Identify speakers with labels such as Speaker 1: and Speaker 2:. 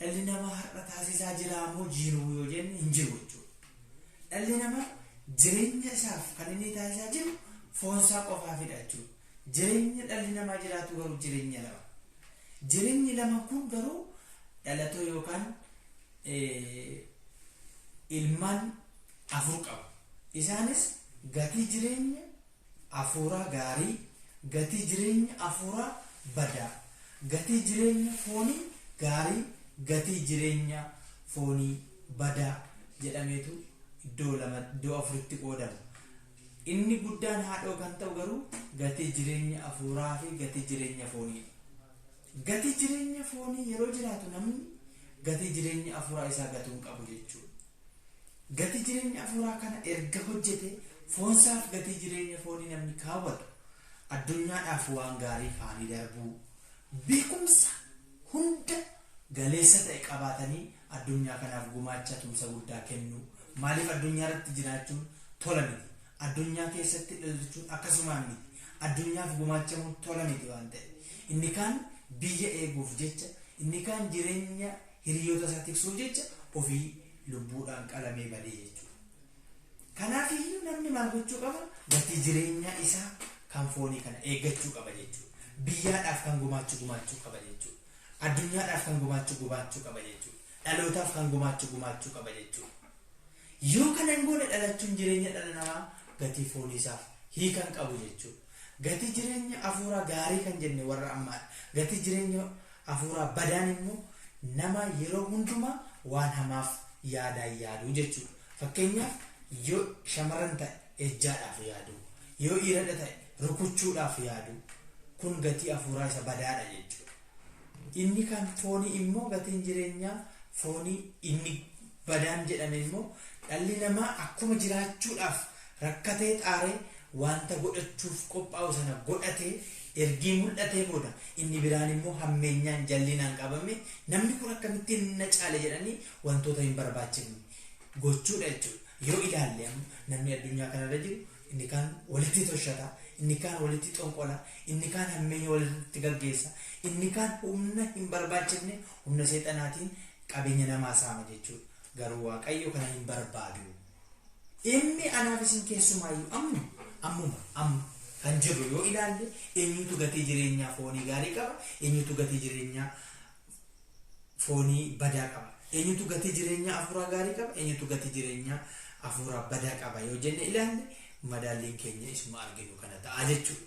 Speaker 1: Dhalli namaa har'a taasisaa jiraa moo jiruu yoo jenne hin jiru jechuudha. Dhalli namaa jireenya isaaf kan inni taasisaa jiru foon isaa qofaafidha jechuudha. Jireenya dhalli namaa jiraatu garuu jireenya lama. Jireenyi laman kun garuu dhalatoo yookaan ilmaan afur qabu. Isaanis gatii jireenya afuuraa gaarii, gatii jireenya afuuraa badaa, gatii jireenya foonii gaarii, gatii jireenya foonii badaa jedhameetu iddoo lama, iddoo afuritti qoodama. Inni guddaan haadhoo kan ta'u garuu gatii jireenya afuuraafi gatii jireenya fooniidha. Gatii jireenya foonii yeroo jiraatu namni gatii jireenya afuuraa isaa gatuu hin qabu jechuudha. Gatii jireenya afuuraa kana erga hojjetee foonsaaf gatii jireenya foonii namni kaawwatu addunyaadhaaf waan gaarii faanii darbuu, beekumsa hunda galeessa ta'e qabaatanii Addunyaa kanaaf gumaacha tumsa guddaa kennuu. Maaliif addunyaa irratti jiraachuun tola miti. Addunyaa keessatti dhalchuun akkasumaan miti. Addunyaaf gumaachamuun tola miti waan ta'eef. Inni kaan biyya eeguuf jecha, inni kaan jireenya hiriyoota isaa tiksuuf jecha ofii lubbuudhaan qalamee badee jechuudha. Kanaaf iyyuu namni maal gochuu qaba? Gatii jireenyaa isaa kan foonii kana eeggachuu qaba jechuudha. Biyyaadhaaf kan gumaachu gumaachuu qaba jechuudha. Addunyaadhaaf kan gumaachu gumaachuu qaba jechuudha. Dhalootaaf kan gumaachu gumaachuu qaba jechuudha. Yoo kana hin goone dhalachuun jireenya dhala namaa gatii foonii isaaf hiika hin qabu jechuudha. Gatii jireenya afuuraa gaarii kan jenne warra ammaadha. Gatii jireenya afuuraa badaan immoo nama yeroo hundumaa waan hamaaf yaadaan yaaduu jechuudha. Fakkeenyaaf yoo shamarran ta'e. ejjaadhaaf yaaduu, yoo iiradha ta'e rukuchuudhaaf yaaduu kun gatii afuuraa isa badaadha jechuudha. Inni kan foonii immoo gatiin jireenyaa foonii inni badaan jedhame immoo dhalli namaa akkuma jiraachuudhaaf rakkatee xaaree wanta godhachuuf qophaa'u sana godhatee ergii mul'atee booda inni biraan immoo hammeenyaan jallinaan qabamee namni kun akkamittiin na caale jedhanii wantoota hin barbaachifne gochuudha jechuudha. Yoo ilaalle amma namni addunyaa kanarra jiru inni kaan walitti toshata, inni kaan walitti xonqola, inni kaan hammeenya walirratti gaggeessa, inni kaan humna hin barbaachifne humna seexanaatiin qabeenya namaa saama jechuudha. Garuu Waaqayyo kana hin barbaadu. Inni anaaf isin keessumaayyuu amma, ammuma, amma kan jirru yoo ilaalle eenyutu gatii jireenyaa foonii gaarii qaba, eenyutu gatii jireenyaa foonii badaa qaba. Eenyutu gatii jireenyaa afuuraa gaarii qaba? Eenyutu gatii jireenyaa afuuraa badaa qaba yoo jenne ilaalle madaalliin keenya isuma arginu kana ta'a jechuudha.